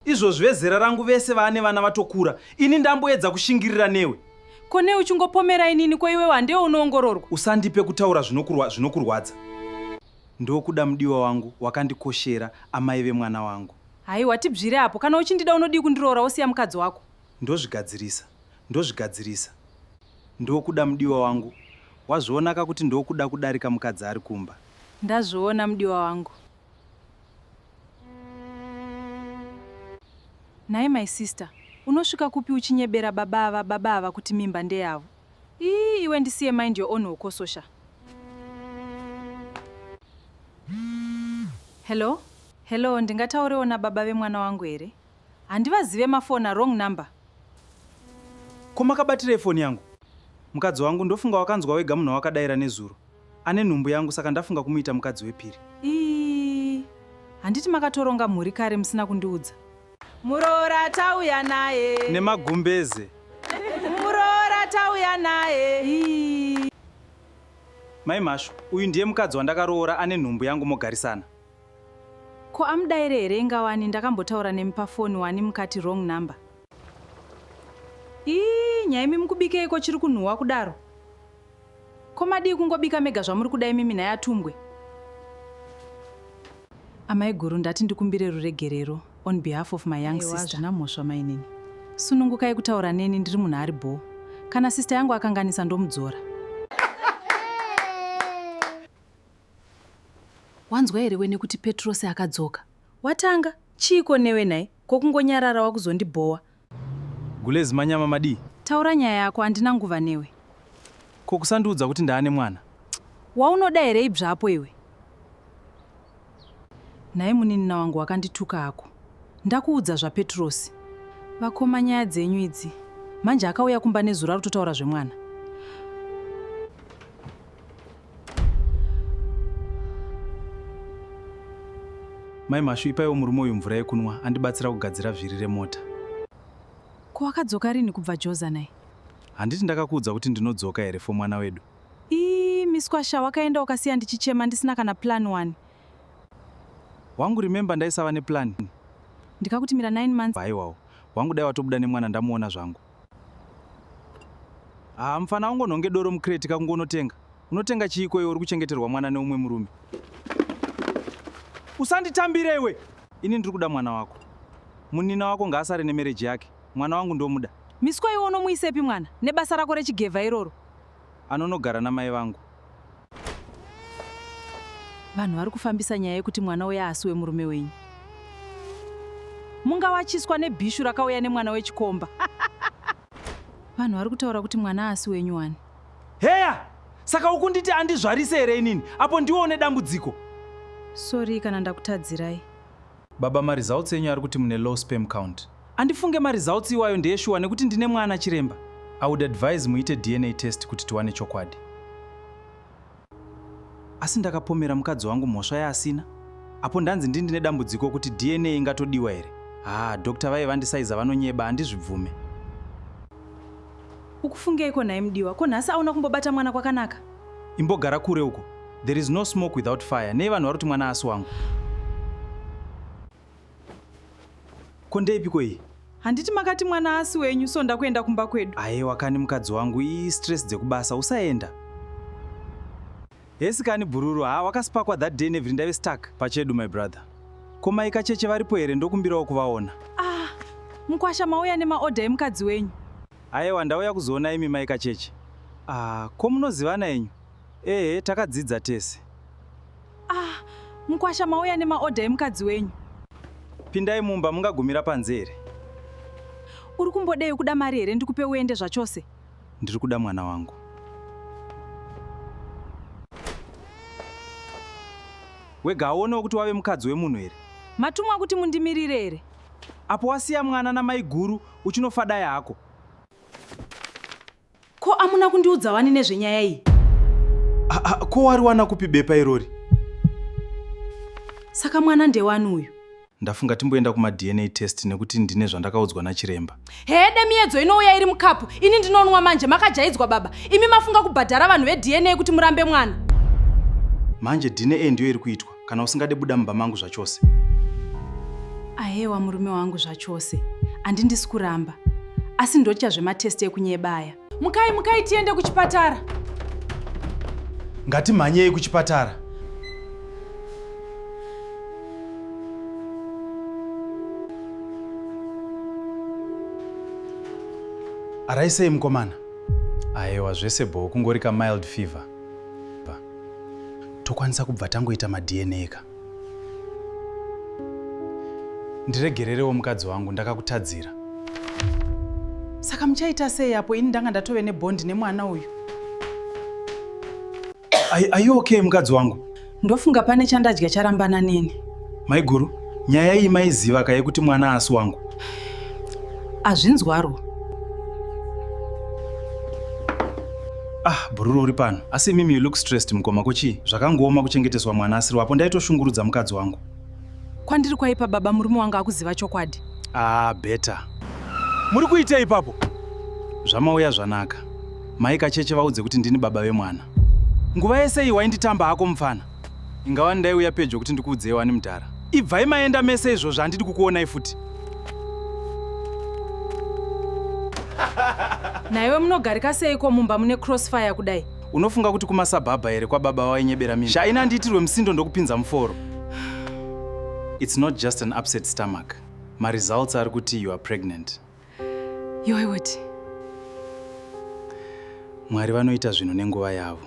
Izvozvi vezera rangu vese vaane vana vatokura. Ini ndamboedza kushingirira newe. Ko nei uchingopomera inini ko iwewe handiwe unoongororwa? Usandipe kutaura zvinokurwa, zvinokurwadza. Ndokuda mudiwa wangu wakandikoshera amai vemwana wangu. Haiwa tibvire apo. Kana uchindida unodii kundiroora wosiya mukadzi wako? Ndozvigadzirisa. Ndozvigadzirisa. Ndokuda mudiwa wangu. Wazvionaka kuti ndokuda kudarika mukadzi ari kumba. Ndazviona mudiwa wangu. Nhai my sister, unosvika kupi uchinyebera baba ava baba ava kuti mimba ndeyavo? Ii iwe ndisiye mind your own hokososha. Hello? Hello, ndingataurewo nababa vemwana wangu here? Handivazive mafona wrong number. Ko makabatirei foni yangu? Mukadzi wangu ndofunga wakanzwa wega munhu wawakadaira nezuro. Ane nhumbu yangu saka ndafunga kumuita mukadzi wepiri. Ii, handiti makatoronga mhuri kare musina kundiudza. Muroora tauya naye. Nemagumbeze. Muroora tauya naye. Ii. Mai Mhashu, uyu ndiye mukadzi wandakaroora ane nhumbu yangu mogarisana. Ko amudaire here inga wani ndakambotaura nemi pafoni wani mukati wrong number. Ii nyaimi mukubikeiko chiri kunhuwa kudaro? Ko madii kungobika mega zvamuri kuda imimi nhai atumbwe? Amai guru ndati ndikumbire ruregerero on behalf of my young sister. Hazvina mhosva mainini. Sunungukai kutaura neni ndiri munhu ari bho. Kana sister yangu akanganisa ndomudzora. Wanzwa here wene kuti Petrosi akadzoka? Watanga? Chiiko newe nhai? Ko kungonyarara wakuzondibhowa. Gulez manyama madii? Taura nyaya yako andina nguva newe. Ko kusandiudza kuti ndaane mwana? Waunoda here ibvapo iwe? Nhai muninina wangu wakandituka hako. Ndakuudza zvaPetrosi. Vakoma nyaya dzenyu idzi. Manje akauya kumba nezuro ari kutotaura zvemwana. mai mashu ipaiwo murume uyu mvura yekunwa andibatsira kugadzira vhiri remota ko wakadzoka rini kubva joza nai handiti ndakakuudza kuti ndinodzoka here fo mwana wedu ii miswasha wakaenda ukasiya ndichichema ndisina kana plan wani wangu remember ndaisava neplan ndikakuti mira 9 months haiwawo wangu dai watobuda nemwana ndamuona zvangu haa ah, mfana ungonhonge doro mucrate kakungonotenga unotenga chiiko iwe uri kuchengeterwa mwana neumwe murume usanditambire iwe ini ndiri kuda mwana wako munina wako ngaasare nemereji yake mwana wangu ndomuda miswa iwe unomuisepi mwana nebasa rako rechigevha iroro anonogara namai vangu. Vanhu vari kufambisa nyaya yekuti mwana uya asi wemurume wenyu. Mungawachiswa nebhishu rakauya nemwana wechikomba. Vanhu vari kutaura kuti mwana asi wenyu wani. Heya! Saka ukunditi andizvarise here inini? Apo ndiwo une dambudziko. Sorry kana ndakutadzirai. Baba maresults enyu ari kuti mune low sperm count. Andifunge maresults iwayo ndeyeshuwa nekuti ndine mwana chiremba. I would advise muite DNA test kuti tiwane chokwadi. Asi ndakapomera mukadzi wangu mhosva yaasina. Apo ndanzi ndini ndine dambudziko kuti DNA ingatodiwa here? Haa, doctor vaye vandisaiza vanonyeba andizvibvume. Ukufungeiko nhai mudiwa? Ko nhasi auna kumbobata mwana kwakanaka? Imbogara kure uko. There is no smoke without fire. Nei vanhu vari kuti mwana asi wangu? Ko ndeipiko iyi? Handiti makati mwana asi wenyu so ndakuenda kumba kwedu. Ayewa kani mukadzi wangu ii stress dzekubasa usaenda. Hesi kani bhururu haa wakasipakwa that day nevhiri ndave stuck pachedu my brother. Ko mai kacheche varipo here ndokumbirawo kuvaona. Ah, mkwasha mauya nemaorder emukadzi wenyu. Ayewa ndauya kuzoona imi mai Kacheche. Ah, ko munozivana enyu? Ehe, takadzidza tese. Ah, mkwasha mauya nemaorder emukadzi wenyu. Pindai mumba mungagumira panze here? Uri kumbodei ukuda mari here ndikupe uende zvachose? Ndiri kuda mwana wangu. Wega aonewo kuti wave mukadzi wemunhu here? Matumwa kuti mundimirire here? Apo wasiya mwana namaiguru uchinofa dai hako. Ko amuna kundiudza wani nezvenyaya iyi? Ko wari wana kupi bepa irori? Saka mwana ndewani uyu? Ndafunga timboenda kuma DNA test nekuti ndine zvandakaudzwa nachiremba. Hede miyedzo inouya iri mukapu. Ini ndinonwa manje makajaidzwa baba. Imi mafunga kubhadhara vanhu veDNA kuti murambe mwana. Manje DNA ndiyo iri kuitwa. kana usingade buda mumba mangu zvachose. Ahewa murume wangu zvachose, andi ndisi kuramba asi ndotya zvematesti ekunyeba aya. Mukai, mukai tiende kuchipatara. Ngatimhanyei kuchipatara. Araisei mukomana. Ayewa zvese bho kungorika mild fever. tokwanisa kubva tangoita madna ka ndiregererewo mukadzi wangu ndakakutadzira saka muchaita sei apo ini ndanga ndatove nebondi nemwana uyu are you okay mukadzi wangu ndofunga pane chandadya charambana neni maiguru Nyaya iyi maiziva ka yekuti mwana asi wangu? Azvinzwaro. Ah, Bhururu uri pano. Asi mimi you look stressed mukoma ko chii? Zvakangooma kuchengeteswa mwana asiri wapo ndaitoshungurudza mukadzi wangu. Kwandiri kwaipa baba murume wanga akuziva chokwadi. Ah, better. Muri kuitei ipapo? Zvamauya zvanaka. Mai kacheche vaudze kuti ndini baba vemwana. Nguva yese iyi wainditamba hako mupfana. Inga wani ndaiuya pedyo kuti ndikuudzei wani mudhara. Ibvai maenda mese izvozvo handidi kukuonai futi. Naiwe munogarika seiko mumba mune crossfire kudai? Unofunga kuti kumasabhabha here kwababa wainyebera mimi? Shaina handiitirwe musindo ndokupinza muforo. It's not just an upset stomach. My results are kuti you are pregnant. Yoiweti. Mwari vanoita zvinhu nenguva yavo.